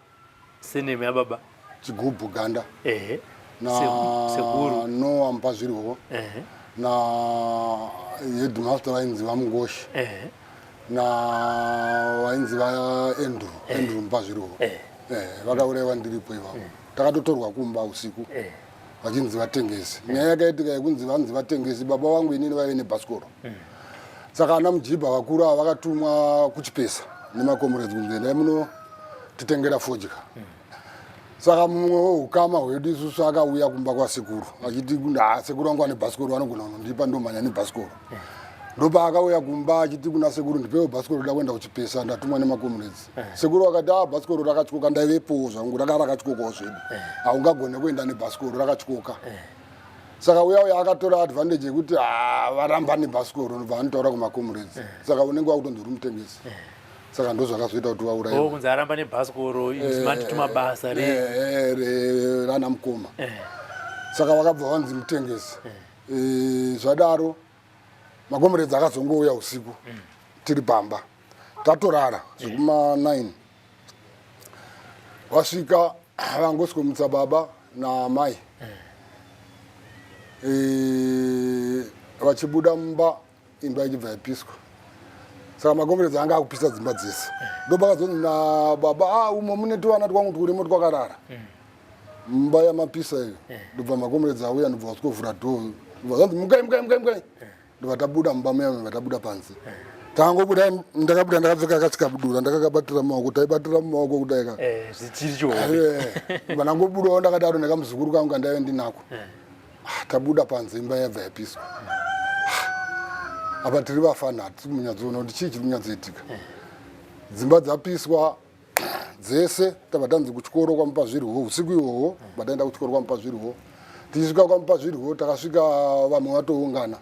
Senemi ya baba. Chigubhu ganda. Ehe. Na sekuru. No ampa zvirwo. Ehe. Na headmaster vainzi vamungoshi. Ehe. Na vainzi va Andrew. Andrew mpa zvirwo. Ehe. Ehe. Vakauraiwa ndiripo ivavo. Takatotorwa kumba usiku. Ehe. vachinzi vatengesi mm. nyaya yakaitika yekunzi vanzi vatengesi baba vangu inini vaive nebhasikoro mm. saka ana mujibha vakuru ava vakatumwa kuchipesa nemakomurezi kunzi endai muno titengera fodya mm. saka mumwe weukama hwedu isusu akauya kumba kwasekuru achiti sekuru vangu vane bhasikoro vanogona kunondipa ndomhanya nebhasikoro ndopaakauya kumba achiti kuna sekuru ndipewo bhasikoro rida kuenda kuchipesa ndatumwa nemakomuredzi eh. sekuru vakati a ah, bhasikoro rakatyoka ndaivepowo zvangu raka rakatyokawo zvedu eh. haungagone kuenda nebhasikoro rakatyoka eh. saka uya uya akatora advantage yekuti ah, varamba nebhasikoro nobva anotaura kumakomuredzi saka unenge wakutonzi uri mutengesi saka ndozvakazoita kuti vaurayekunzi oh, aramba nebhasikoro matituma basa rana mukoma saka vakabva vanzi mutengesi e, zvadaro makomuredzi akazongouya usiku mm. tiri pamba tatorara zvekuma 9 vasvika vangosikomutsa baba namai mm. e, vachibuda mumba imba ichibva yapiswa saka makomberedza anga akupisa dzimba dzese ndopakazonzi nababa a ah, umo mune tuvana twangu twurimo twakarara mumba yamapisa iyo ndobva makomberedza auya ndobva wasikovhura dho ndobva zanzi mukai mukai mukai mukai ndobva tabuda mumba muya ndobva tabuda panze tangobuda ndakabuda ndakapfeka kasikabudura ndakakabatira mumaoko taibatira mumaoko kudaika eh, zvichirichoba eh, ndangobudawo ndakadaro nekamuzukuru kangu kandaive ndinako eh. Ah, tabuda panze imba yabva yapiswa. Ah, apa tiri vafana hatisi munyatsoona kuti chii chiri kunyatsoitika. Eh. Dzimba dzapiswa dzese tabva tanzi kuchikoro kwamupa zvirwo usiku ihwohwo bataenda kuchikoro kwamupa zvirwo tichisvika kwamupa zvirwo takasvika vamwe vatoungana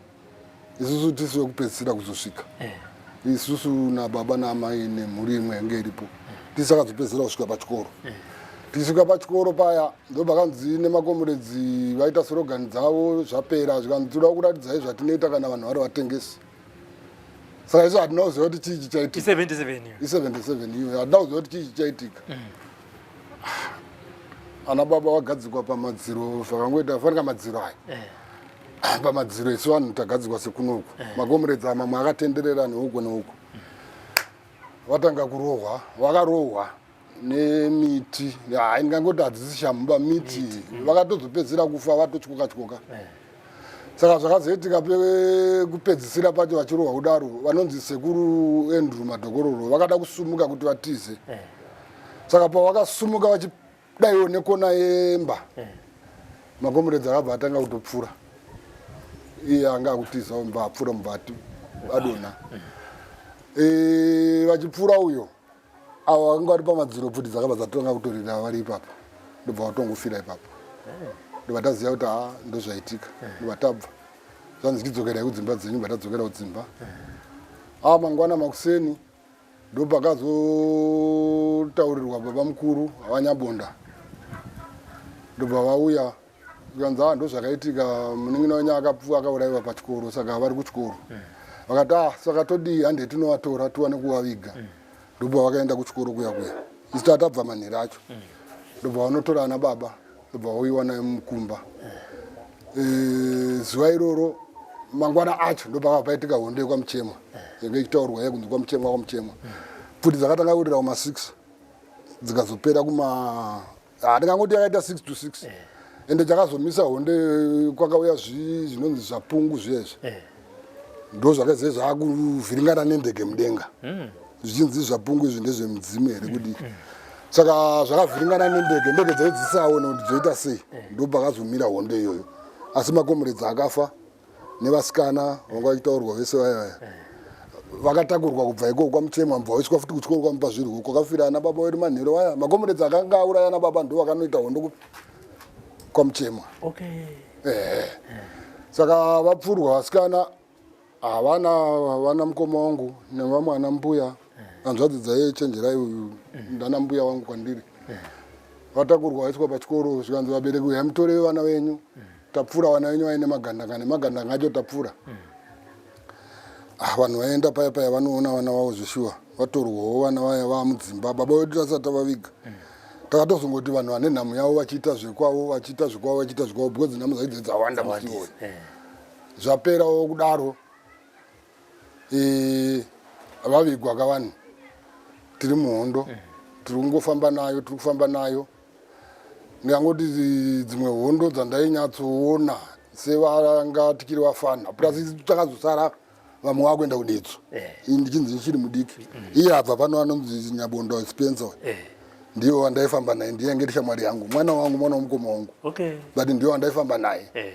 isusu tisu vekupedzisira kuzosvika eh. isusu nababa naamai nemhuri imwe yange iripo eh. tisu akazopedzisira kusvika pachikoro eh. tisvika pachikoro paya ndopakanzi nemakomuredzi vaita sorogani dzavo zvapera zvikanzi tinoda kuratidzai zvatinoita kana vanhu vari vatengesi saka isu hatina kuziva kuti chii chichaitika i77 iyo hatina kuziva kuti chii chichaitika mm. ana baba vagadzikwa pamadziro zvakangoita fanika madziro aya eh. pamadziro isu vanhu tagadzirwa sekunoku eh. makomrades amamwe akatenderera neuko neuko vatanga kurohwa vakarohwa nemiti hai ndingangoti hadzisi shamuba miti mm. vakatozopedzisira kufa vatotyoka tyoka eh. saka zvakazoitika kupedzisira pacho vachirohwa kudaro vanonzi sekuru andrew madokororo vakada kusumuka kuti vatize eh. saka pavakasumuka dai one kona yemba eh. makomuredzi akabva atanga kutopfura iye anga akutizawo mba apfura mubva adonha eh. eh, vachipfura uyo avo vakanga vari pamadziro pfuti dzakabva dzatanga kutorira vari ipapo ndobva vatongofira ipapo ndobva taziva kuti ha ndozvaitika ndobva tabva zvanzi chidzokerai kudzimba dzenyu bva tadzokera kudzimba a mangwana makuseni ndopakazotaurirwa baba mukuru vanyabonda ndobva vauya zvikanzi ha ah, ndozvakaitika munin'ina wenyu akapfuwa akaurayiwa pachikoro saka vari kuchikoro mm. vakati a ah, saka todii hande tinovatora tiwane kuvaviga mm. ndobva vakaenda kuchikoro kuya kuya isu tatabva manhiri acho mm. ndobva vanotora ana baba ndobva wauyiwa nayo mumukumba eh, zuva iroro mangwana acho ndopakava paitika hondo yekwamuchemwa yanga ichitaurwa ye kunzi kwamuchemwa kwamuchemwa pfuti dzakatanga kurira kuma six dzikazopera kuma handingangoti ah, yakaita six to six ende chakazomisa hondo kwakauya zvinonzi zvapungu zviyezvi ndozvakazve zvakuvhiringana nendege mudenga hmm. zvichinzi zvapungu izvi ndezvemudzimu here hmm. kudii hmm. saka zvakavhiringana nendege ndege dzaive dzisaone kuti dzoita sei ndobva akazomira hondo iyoyo asi makomuredzi akafa nevasikana vanga vachitaurwa vese vaya vaya vakatakurwa kubva ikoko kwamuchemwa mva waiswa futi kutyoro kwamupa zvirwo kwakafira ana baba wedu manhero vaya makomuredzi akanga auraya ana baba ndo vakanoita hondo kwamuchemwa okay. eh. saka vapfurwa vasikana havana vana mukoma wangu nevamwe ana mbuya hanzvadzi dzaiye chenjerai uyu ndana mbuya wangu kwandiri vatakurwa vaiswa pachikoro zvikanzi vabereki uya mutoreve vana venyu tapfura vana venyu vaine magandanga nemagandanga acho tapfura mm. Ah, vanhu vaenda paya paya vanoona vana vavo zveshuwa vatorwawo vana vaya vava mudzimba baba vedu tasati tavaviga takatozongoti vanhu vane nhamo yavo vachiita zvekwavo vachiita zvekwavo vachiita zvekwavo because nhamo dzaidze dzawanda musioni eh. zvaperawo kudaro eh, vavigwa ka vanhu tiri muhondo eh. tiri kungofamba nayo tiri kufamba nayo ndingangoti dzimwe hondo dzandainyatsoona sevangatikiri vafana plus takazosara vamwe vakuenda kudetso eh. ndichinzi ndichiri mudiki mm. iye abva pano anonzi nyabondo spencer eh. ndiyo wandaifamba naye ndiye ange tishamwari yangu mwana wangu mwana womukoma wangu but ndiyo wandaifamba naye eh.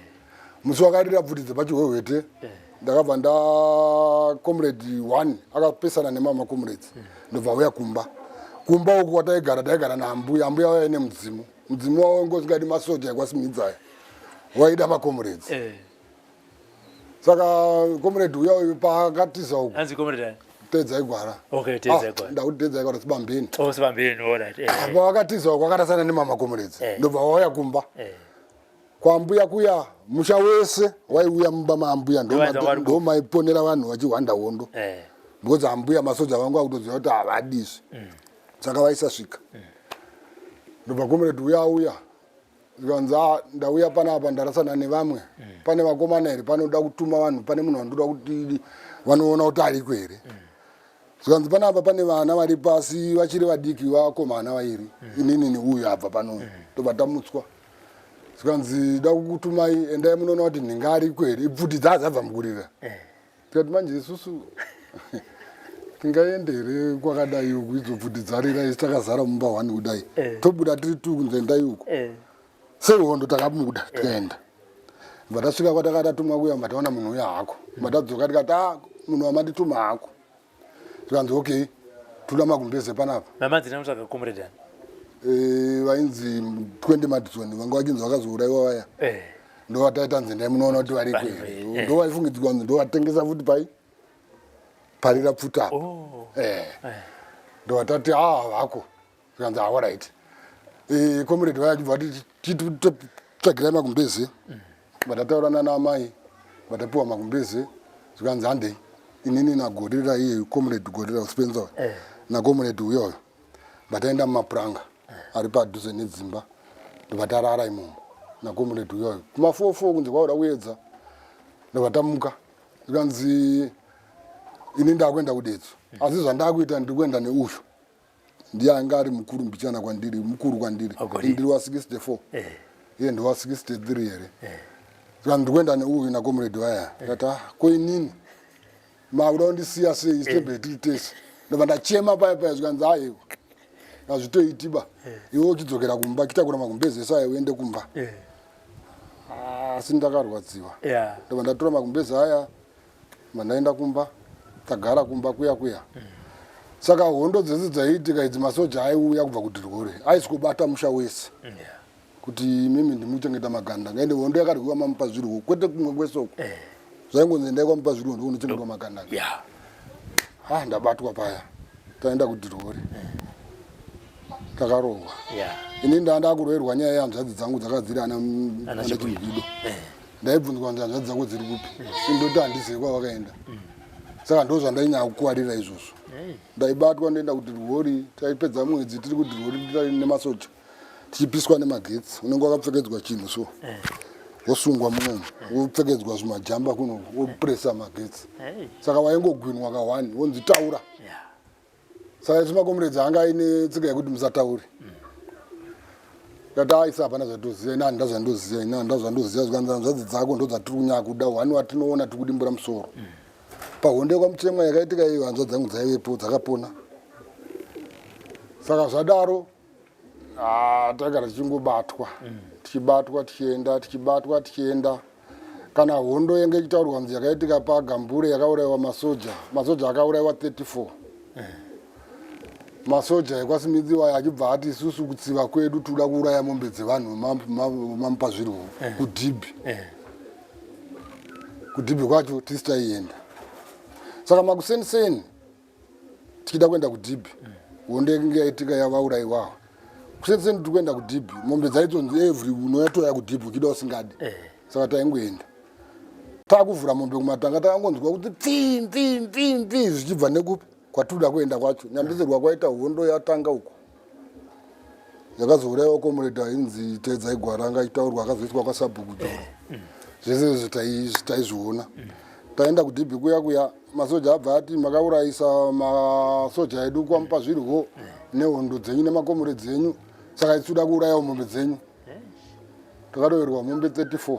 musi wakarira bvuti dzepachihwehwete eh. ndakabva nda comrade one akapesana nemama comrades eh. ndobva auya kumba kumba uku kwataigara taigara naambuya ambuya vaive nemudzimu mudzimu wavo ngozingadi masoja ekwasimhidzaya waida macomrades eh. saka comrade uya uyu paakatiza uku teedza igwara ah, ndakuti teedza igwara sibambeni oh, eh. pavakatiza uku akatasana nemama comrades eh. ndobva wauya kumba kwambuya kuya musha wese waiuya mumba maambuya ndomaiponera vanhu vachihwanda hondo eh. because ambuya masoja vangu akutoziva kuti havadizvi mm. saka vaisasvika mm. ndobva komereti uya auya zvikanzi ah, ndauya panapa ndarasana nevamwe mm. pane vakomana here panoda kutuma vanhu pane munhu vandoda kuti vanoona kuti ariko here zvikanzi panapa pane vana vari pasi vachiri vadiki vakomana vairi mm. inini neuyu abva panoyu mm. tobva tamutswa zvikanzi da kukutumai endai munoona kuti nhinga ariko here ibvuti dzaa dzabva mukurira mm. tikati manje isusu tingaende here kwakadai uku idzobvuti dzarira isi takazara mumba one kudai tobuda tiri tu kunzendai uko sehondo takabuda tikaenda bva tasvika kwataka tatumwa kuya bva taona munhu uya hako bva tadzoka tikati a munhu wamatituma hako tikanzi okay toda magumbeze panapa namadzina mutsvaga comrade ani Eh, vainzi 20 madison vanga vachinzi vakazouraiwa vaya eh ndovataita nzi ndai munoona kuti variko Vari- here eh. ndovaifungidzika kunzi ndovatengesa futi pai parira pfuta apo oh eh ndovatati aa vako zvikanzi ah, alright eh, comrade vaya chibva vati titsvagirai magumbeze mm. vatataura nana amai vatapiwa magumbeze zvikanzi handei inini nagorira iye comrade gorira uspenza eh. nacomrade uyoyo vataenda mumapuranga eh. ari padhuze nedzimba ndovatarara imomo nacomrade uyoyo kumafofo kunzi kwaoda kuedza ndovatamuka zvikanzi ini ndakuenda kudetso mm. asi zvandakuita ndiri kuenda neuyu ndiye anga ari mukuru mbichana kwandiri mukuru kwandiri ndiri wa 64 eh. iye ndiwa 63 here eh. saka ndiri kuenda neuyu nakomuredi vaya ndikati eh. ah, koinini makuda kundisiya sei isitebhei tiri tese ndobva ndachema paya paya zvikanzi aiwa hazvitoitiba iwe uchidzokera kumba chitakura magumbezi ese ayo uende kumba asi ndakarwadziwa ndobva ndatora magumbezi aya mandaenda kumba tagara kumba kuya kuya saka hondo dzese dzaiitika idzi masoja aiuya kubva kudirwore aiswobata musha wese kuti mimi ndimuchengeta maganda ngaende hondo yakarwiwa mamupa zvirwo kwete kumwe kwesoko eh. zvaingonzi endai kwamupa zvirwo ndikunochengetwa maganda ha ah, ndabatwa paya taenda kudirwore eh. takarohwa ini ndandakuroerwa nyaya yehanzvadzi dzangu dzakadziri ana chimhido eh. ndaibvunzwa kuti hanzvadzi dzako dziri kupi indoti handizivi kwavakaenda saka ndo zvandainyaya kukuwarira izvozvo ndaibatwa ndoenda kudirwori taipedza mwedzi tiri kudirwori nemasocha tichipiswa nemagetsi unenge wakapfekedzwa chinhu so wosungwa munomu wopfekedzwa zvimajamba kuno wopresa magetsi saka waingogwinwa kahwani wonzi taura Saka isu makomuredzi anga aine tsika yekuti musataure. Ndati aisa hapana zvatoziva ina handina zvandoziva ina handina zvandoziva zvikanzi hanzvadzi dzako ndodzatiri kunyakuda wani watinoona tiri kudimbura musoro. Pahonde kwamutemwa yakaitika iyo hanzvadzi dzangu dzaivepo dzakapona. Saka zvadaro Ah, tagara tichingobatwa mm. tichibatwa tichienda tichibatwa tichienda kana hondo yenge ichitaurwa mzi yakaitika pagambure yakaurayiwa masoja masoja akaurayiwa 34 mm. masoja ekwasimidzi wayo achibva ati isusu kutsiva kwedu tinoda kuuraya mombe dzevanhu mamupa zvirwo mm. kudhibhi mm. kudhibhi kwacho tisi taienda saka makuseni seni tichida kuenda kudhibhi hondo yakinge yaitika yavauraiwawo kusati seni tiri kuenda kudhibhi mombe dzaitonzi every unouya toya kudhibhi uchida usingadi eh. saka taingoenda takuvhura mombe kumatanga takangonzwa kuti pfii pfii pfii pfii zvichibva nekupi kwatiri kuda kuenda kwacho nyambisirwa kwaita hondo yatanga uku yakazouraiwa comrade ainzi teedzai gwaranga itaurwa akazoiswa kwasabhuku joro mm. zvese izvi taizviona mm. taenda kudb kuya kuya masoja abva ati makaurayisa masoja edu kwamupa zvirwo mm. nehondo dzenyu nemakomore dzenyu saka isuda kuurayawo mombe dzenyu takatoverwa mombe 34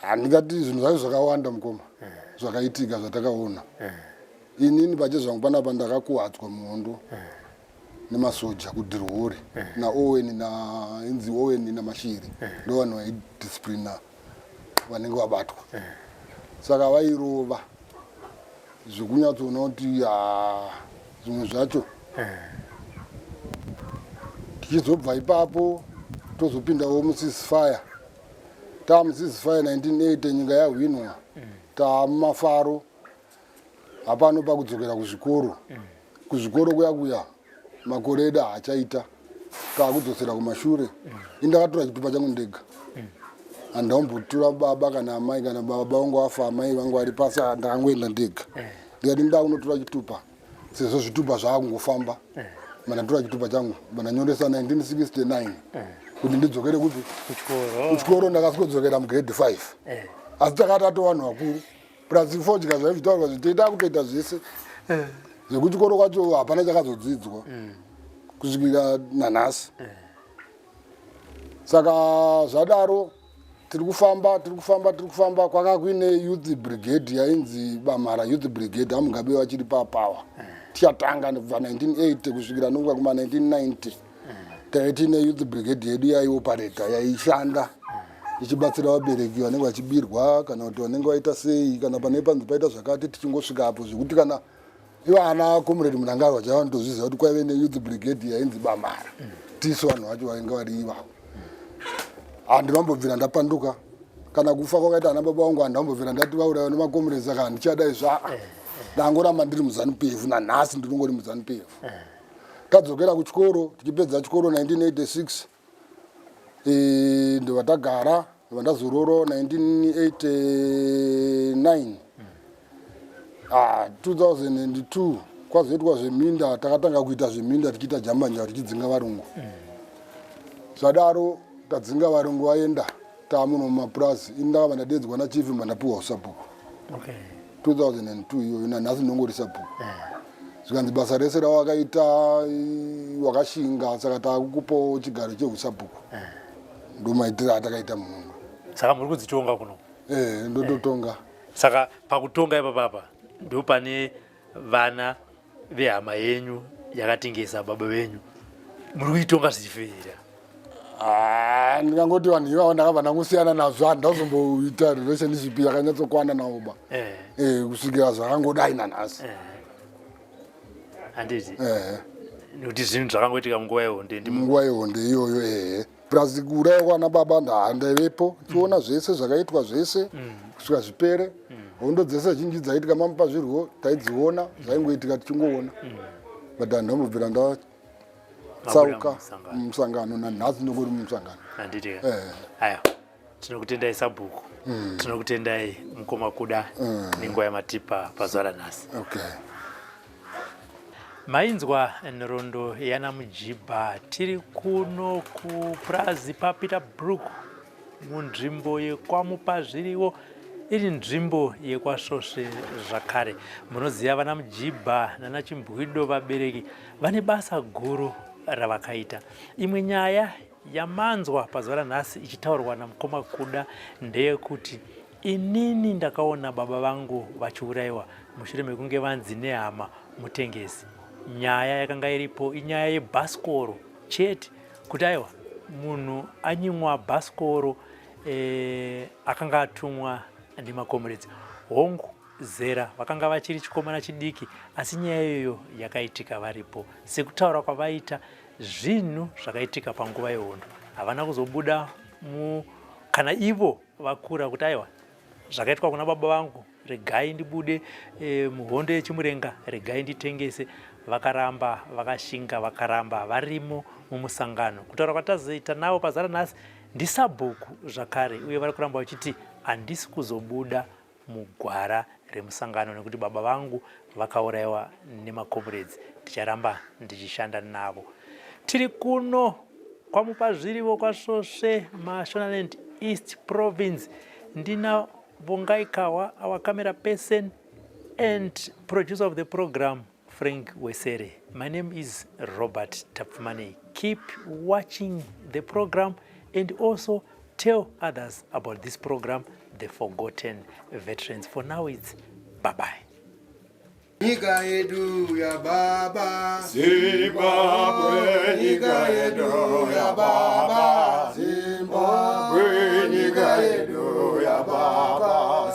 handingati zvinhu zvacho zvakawanda mukoma eh. zvakaitika zvatakaona eh. inini pache zvangu panapa ndakakuwadzwa muhondo eh. nemasoja kudhirwori naowen nainzi owen namashiri ndo vanhu vaidisciplina vanenge vabatwa saka vairova zvekunyatsoona kuti zvimwe zvacho tichizobva ipapo tozopidawo musisfire tamuzizifaye 1980 nyika yahwinwa mm. tamumafaro hapano pakudzokera kuzvikoro mm. kuzvikoro kuya kuya makore edu haachaita taakudzosera kumashure mm. indakatora chitupa changu ndega handaombotura baba kana amai kana baba vangu afa amai vangu vari pasi ndakangoenda ndega ndikati ndakunotora chitupa sezvo zvitupa zvaakungofamba eh. mandatora chitupa changu mandanyoresa 1969 eh. kuti ndidzokere kuti kuchikoro ndakasikodzokera mugrade 5 eh. asi takati ato vanhu vakuru plus fodya zvaive zvitaurwa zvitoita kutoita zvese zvekuchikoro kwacho hapana chakazodzidzwa mm. kusvikira nanhasi saka zvadaro tiri kufamba tiri kufamba tiri kufamba kwanga kuine youth brigade yainzi bamhara youth brigade amugabe vachiri papower tichatanga nekubva 1980 kusvikira nokuva kuma 1990 taive tiine youth brigade yedu yaiopareta yaishanda ichibatsira vabereki vanenge vachibirwa kana kuti vanenge vaita sei kana pane panzi paita zvakati tichingosvika apo zvekuti kana ivo ana comrade munangarwa chaiva nditozviziva kuti kwaive neyouth brigade yainzi bamara tisu vanhu vacho vainge vari ivavo handi vambobvira ndapanduka kana kufa kwakaita ana baba vangu handi vambobvira ndati vauraiwa nemacomrades aka handichadai zva ndangoramba ndiri muzanu pevu nanhasi ndinongori muzanu pevu tadzokera kuchikoro tichipedza chikoro 1986 Eh, ndobva ndagara ndobva ndazororo 1989 ah, 2002 kwazoitwa zveminda takatanga kuita zveminda tichiita jambanja tichidzinga varungu zvadaro tadzinga varungu vaenda taamuno mumapurazi ini ndakabva ndadeedzwa nachief mba ndapiwa usabhuku okay. 2002 iyoyo nanhasi ndongorisa bhuku eh. zvikanzi basa rese rawakaita wakashinga saka takukupawo chigaro chehusabhuku eh. ndomaitira atakaita mumwe saka muri kudzitonga kuno eh, ndototonga saka pakutonga ipapapa ndopane vana vehama yenyu yakatengesa baba venyu muri kuitonga zvichifira ah, ndikangoti vanhu ivavo ndakabva ndangosiyana nazvo handi ndazomboita relationship yakanyatsokwana navo ba eh. eh, kusvikira zvakangodai nanhasi eh. handiti nekuti zvinhu zvakangoitika munguva yehonde munguva yehonde iyoyo ehe purazi kuuraya kwana baba ndaivepo tiona mm. zvese zvakaitwa zvese mm. kusvika zvipere mm. hondo dzese zhinji dzaitika mamupa zvirwo taidziona zvaingoitika tichingoona but anhu amubvira ndatsauka musangano nanhasi ndongori mumusangano eh. tinokutendai sabhuku mm. tinokutendai mukoma kuda mm. nenguva yamatipa pazuva ranhasi okay. mainzwa nhorondo yana mujibha tiri kuno kupurazi papeter brook munzvimbo yekwamupa zviriwo iri nzvimbo yekwasvosve zvakare munoziva vana mujibha nana chimbwido vabereki vane basa guru ravakaita imwe nyaya yamanzwa pazuva ranhasi ichitaurwa namukoma kuda ndeyekuti inini ndakaona baba vangu vachiurayiwa mushure mekunge vanzi nehama mutengesi nyaya yakanga iripo inyaya yebhasikoro chete kuti aiwa munhu anyimwa bhasikoro e, akanga atumwa nemakomuredzi hongu zera vakanga vachiri chikomana chidiki asi nyaya iyoyo yakaitika varipo sekutaura kwavaita zvinhu zvakaitika panguva yehondo havana kuzobuda mu kana ivo vakura kuti aiwa zvakaitwa kuna baba vangu regai ndibude e, muhondo yechimurenga regai nditengese vakaramba vakashinga vakaramba varimo mumusangano kutaura kwatazoita navo pazara nhasi ndisabhuku zvakare uye vari kuramba vachiti handisi kuzobuda mugwara remusangano nekuti baba vangu vakauraiwa nemakomuredzi ndicharamba ndichishanda navo tiri kuno kwamupazvirivo kwasvosve mashonaland east province ndina vongaikawa our camera person and producer of the program Frank Wesere. My name is Robert Tapfumane. Keep watching the program and also tell others about this program, The Forgotten Veterans. For now, it's bye-bye. Nyika yedu ya baba Zimbabwe, nyika yedu ya baba Zimbabwe, nyika yedu ya baba